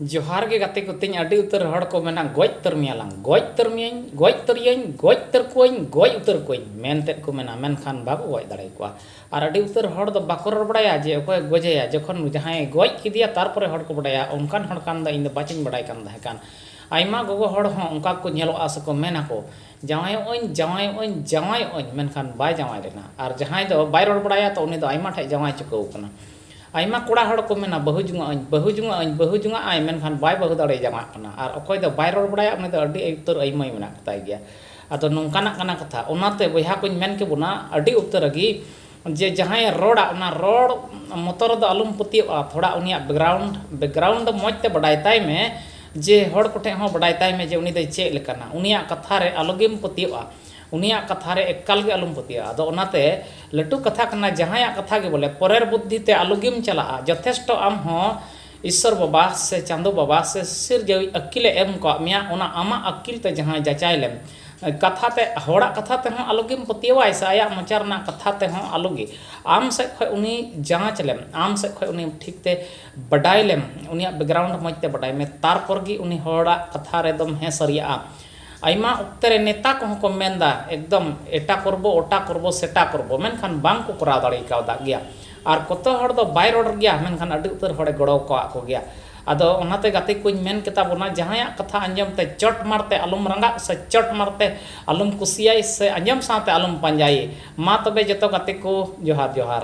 ᱡᱚᱦᱟᱨ ᱜᱮ ᱜᱟᱛᱮ ᱠᱚ ᱛᱤᱧ ᱟᱹᱰᱤ ᱩᱛᱟᱹᱨ ᱦᱚᱲ ᱠᱚ ᱢᱮᱱᱟ ᱜᱚᱡ ᱩᱛᱟᱹᱨ ᱢᱮᱭᱟᱞᱟᱝ ᱜᱚᱡ ᱩᱛᱟᱹᱨ ᱢᱮᱭᱟᱹᱧ ᱜᱚᱡ ᱩᱛᱟᱹᱨᱤᱭᱟᱹᱧ ᱜᱚᱡ ᱩᱛᱟᱹᱨ ᱠᱚᱣᱟᱹᱧ ᱜᱚᱡ ᱩᱛᱟᱹᱨ ᱠᱚᱣᱟᱹᱧ ᱢᱮᱱᱛᱮᱫ ᱠᱚ ᱢᱮᱱᱟ ᱢᱮᱱᱠᱷᱟᱱ ᱵᱟᱠᱚ ᱜᱚᱡ ᱫᱟᱲᱮ ᱟᱠᱚᱣᱟ ᱟᱨ ᱟᱹᱰᱤ ᱩᱛᱟᱹᱨ ᱦᱚᱲ ᱫᱚ ᱵᱟᱠᱚ ᱨᱚᱲ ᱵᱟᱲᱟᱭᱟ ᱡᱮ ᱚᱠᱚᱭ ᱜᱚᱡᱮᱭᱟ ᱡᱚᱠᱷᱚᱱ ᱡᱟᱦᱟᱸᱭ ᱜᱚᱡ ᱠᱮᱫᱮᱭᱟ ᱛᱟᱨᱯᱚᱨᱮ ᱦᱚᱲ ᱠᱚ ᱵᱟᱰᱟᱭᱟ ᱚᱱᱠᱟᱱ ᱦᱚᱲ ᱠᱷᱟᱱ ᱫᱚ ᱤᱧ ᱫᱚ ᱵᱟᱪᱚᱧ ᱵᱟᱰᱟᱭ ᱠᱟᱱ ᱛᱟᱦᱮᱸ ᱠᱟᱱ ᱟᱭᱢᱟ ᱜᱚᱜᱚ ᱦᱚᱲ ᱦᱚᱸ ᱚᱱᱠᱟ ᱠᱚ ᱧᱮᱞᱚᱜᱼᱟ ᱥᱮᱠᱚ ᱢᱮᱱᱟ ᱠᱚ ᱡᱟᱶᱟᱭᱚᱜ ᱟᱹᱧ ᱡᱟᱶᱟᱭᱚᱜ ᱟᱹᱧ ᱡᱟᱶᱟᱭᱚᱜ ᱟᱹᱧ ᱢᱮᱱᱠᱷᱟᱱ ᱵᱟᱭ ᱡᱟᱶᱟᱭ ᱞᱮᱱᱟ ᱟᱨ ᱡᱟᱦᱟᱸᱭ ᱫᱚ ᱵᱟᱭ ᱨᱚᱲ ᱵᱟᱲᱟᱭᱟ ᱛᱚ ᱩᱱᱤ ᱫᱚ ᱟᱭᱢᱟ ᱴᱷᱮᱱ ᱡᱟᱶᱟᱭ ᱪᱩᱠᱟᱹᱣ ᱟᱠᱟᱱᱟ ᱟᱭᱢᱟ ᱠᱚᱲᱟ ᱦᱚᱲ ᱠᱚ ᱢᱮᱱᱟ ᱵᱟᱹᱦᱩ ᱡᱚᱝᱚᱜ ᱟᱹᱧ ᱵᱟᱹᱦᱩ ᱡᱚᱝᱚᱜ ᱟᱹᱧ ᱵᱟᱹᱦᱩ ᱡᱚᱝᱟᱜ ᱟᱭ ᱢᱮᱱᱠᱷᱟᱱ ᱵᱟᱭ ᱵᱟᱹᱦᱩ ᱫᱟᱲᱮ ᱡᱟᱶᱟᱭᱚᱜ ᱠᱟᱱᱟ ᱟᱨ ᱚᱠᱚᱭ ᱫᱚ ᱵᱟᱭ ᱨᱚᱲ ᱵᱟᱲᱟᱭᱟ ᱩᱱᱤ ᱫᱚ ᱟᱹᱰᱤ ᱩᱛᱟᱹᱨ ᱟᱹᱭᱢᱟᱹᱭ ᱢᱮᱱᱟᱜ ᱠᱚᱛᱟᱭ ᱜᱮᱭᱟ ᱟᱫᱚ ᱱᱚᱝᱠᱟᱱᱟᱜ ᱠᱟᱱᱟ ᱠᱟᱛᱷᱟ ᱚᱱᱟᱛᱮ ᱵᱚᱭᱦᱟ ᱠᱚᱧ ᱢᱮᱱ ᱠᱮᱵᱚᱱᱟ ᱟᱹᱰᱤ ᱩᱛᱟᱹᱨ ᱨᱮᱜᱮ ᱡᱮ ᱡᱟᱦᱟᱸᱭᱮ ᱨᱚᱲᱟ ᱚᱱᱟ ᱨᱚᱲ ᱢᱚᱛᱚ ᱨᱮᱫᱚ ᱟᱞᱚᱢ ᱯᱟᱹᱛᱭᱟᱹᱜᱼᱟ ᱛᱷᱚᱲᱟ ᱩᱱᱤᱭᱟᱜ ᱵᱮᱠᱜᱨᱟᱣᱩᱱᱰ ᱵᱮᱠᱜᱨᱟᱣᱩᱱᱰ ᱫᱚ ᱢᱚᱡᱽ ᱛᱮ ᱵᱟᱰᱟᱭ ᱛᱟᱭ ᱢᱮ ᱡᱮ ᱦᱚᱲ ᱠᱚᱴᱷᱮᱱ ᱦᱚᱸ ᱵᱟᱰᱟᱭ ᱛᱟᱭ ᱢᱮ ᱡᱮ ᱩᱱᱤ ᱫᱚᱭ ᱪᱮᱫ ᱞᱮᱠᱟᱱᱟ ᱩᱱᱤᱭᱟᱜ ᱠᱟᱛᱷᱟ ᱨᱮ ᱟᱞᱚ ᱜᱮᱢ ᱯᱟᱹᱛᱭᱟᱹᱜᱼᱟ ᱩᱱᱤᱭᱟᱜ ᱠᱟᱛᱷᱟ ᱨᱮ ᱮᱠᱠᱟᱞ ᱜᱮ ᱟᱞᱚᱢ ᱯᱟᱹᱛᱭᱟᱹᱜᱼᱟ᱾ ᱟᱫᱚ ᱚᱱᱟᱛᱮ ᱞᱟᱹᱴᱩ ᱠᱟᱛᱷᱟ ᱠᱟᱱᱟ ᱡᱟᱦᱟᱸᱭᱟᱜ ᱠᱟᱛᱷᱟ ᱜᱮ ᱵᱚᱞᱮ ᱯᱚᱨᱮᱨ ᱵᱩᱫᱽᱫᱷᱤ ᱛᱮ ᱟᱞᱚ ᱜᱮᱢ ᱪᱟᱞᱟᱜᱼᱟ᱾ ᱡᱚᱛᱷᱮᱥᱴᱚ ᱟᱢ ᱦᱚᱸ ᱤᱥᱥᱚᱨ ᱵᱟᱵᱟ ᱥᱮ ᱪᱟᱸᱫᱚ ᱵᱟᱵᱟ ᱥᱮ ᱥᱤᱨᱡᱟᱹᱣᱤᱡ ᱟᱹᱠᱠᱤᱞ ᱮ ᱮᱢ ᱠᱟᱣᱟᱫ ᱢᱮᱭᱟ ᱚᱱᱟ ᱟᱢᱟᱜ ᱟᱹᱠᱠᱤᱞ ᱛᱮ ᱡᱟᱦᱟᱸᱭ ᱡᱟᱪᱟᱭ ᱞᱮᱢ ᱠᱟᱛᱷᱟ ᱛᱮ ᱦᱚᱲᱟᱜ ᱠᱟᱛᱷᱟ ᱛᱮ ᱦᱚᱸ ᱟᱞᱚ ᱜᱮᱢ ᱯᱟᱹᱛᱭᱟᱹᱣᱟᱭ ᱥᱮ ᱟᱭᱟᱜ ᱢᱚᱪᱟ ᱨᱮᱱᱟᱜ ᱠᱟᱛᱷᱟ ᱛᱮ ᱦᱚᱸ ᱟᱞᱚ ᱜᱮ ᱟᱢ ᱥᱮᱫ ᱠᱷᱚᱱ ᱩᱱᱤ ᱡᱟᱸᱪ ᱞᱮᱢ ᱟᱢ ᱥᱮᱫ ᱠᱷᱚᱱ ᱩᱱᱤ ᱴᱷᱤᱠ ᱛᱮ ᱵᱟᱰᱟᱭ ᱞᱮᱢ ᱩᱱᱤᱭᱟᱜ ᱵᱮᱠᱜᱨᱟᱣᱩᱱᱰ ᱢᱚᱡᱽ ᱛᱮ ᱵᱟᱰᱟᱭ ᱢᱮ ᱛᱟᱨᱯᱚᱨ ᱜᱮ ᱩᱱᱤ ᱦᱚᱲᱟᱜ ᱠᱟᱛᱷᱟ ᱨᱮᱫᱚᱢ ᱦᱮᱸ ᱥᱟᱹᱨᱤᱭᱟᱜᱼᱟ᱾ ᱟᱭᱢᱟ ᱚᱠᱛᱮ ᱨᱮ ᱱᱮᱛᱟ ᱠᱚᱦᱚᱸ ᱠᱚ ᱢᱮᱱ ᱮᱫᱟ ᱮᱠᱫᱚᱢ ᱮᱴᱟ ᱠᱚᱨᱵᱚ ᱚᱴᱟ ᱠᱚᱨᱵᱚ ᱥᱮᱴᱟ ᱠᱚᱨᱵᱚ ᱢᱮᱱᱠᱷᱟᱱ ᱵᱟᱝ ᱠᱚ ᱠᱚᱨᱟᱣ ᱫᱟᱲᱮ ᱠᱟᱣᱫᱟ ᱜᱮᱭᱟ ᱟᱨ ᱠᱚᱛᱚ ᱦᱚᱲ ᱫᱚ ᱵᱟᱭ ᱨᱚᱲ ᱜᱮᱭᱟ ᱢᱮᱱᱠᱷᱟᱱ ᱟᱹᱰᱤ ᱩᱛᱟᱹᱨ ᱦᱚᱲᱮ ᱜᱚᱲᱚ ᱟᱠᱟᱫ ᱠᱚᱜᱮᱭᱟ ᱟᱫᱚ ᱚᱱᱟᱛᱮ ᱜᱟᱛᱮ ᱠᱚᱧ ᱢᱮᱱ ᱠᱮᱛᱟ ᱵᱚᱱᱟ ᱡᱟᱦᱟᱸᱭᱟᱜ ᱠᱟᱛᱷᱟ ᱟᱸᱡᱚᱢ ᱛᱮ ᱪᱚᱴ ᱢᱟᱨ ᱛᱮ ᱟᱞᱚᱢ ᱨᱟᱸᱜᱟᱜ ᱥᱮ ᱪᱚᱴ ᱢᱟᱨ ᱛᱮ ᱟᱞᱚᱢ ᱠᱩᱥᱤᱭᱟᱭ ᱥᱮ ᱟᱸᱡᱚᱢ ᱥᱟᱶᱛᱮ ᱟᱞᱚᱢ ᱯᱟᱸᱡᱟᱭᱮ ᱢᱟ ᱛᱚᱵᱮ ᱡᱚᱛᱚ ᱜᱟᱛᱮ ᱠᱚ ᱡᱚᱦᱟᱨ ᱡᱚᱦᱟᱨ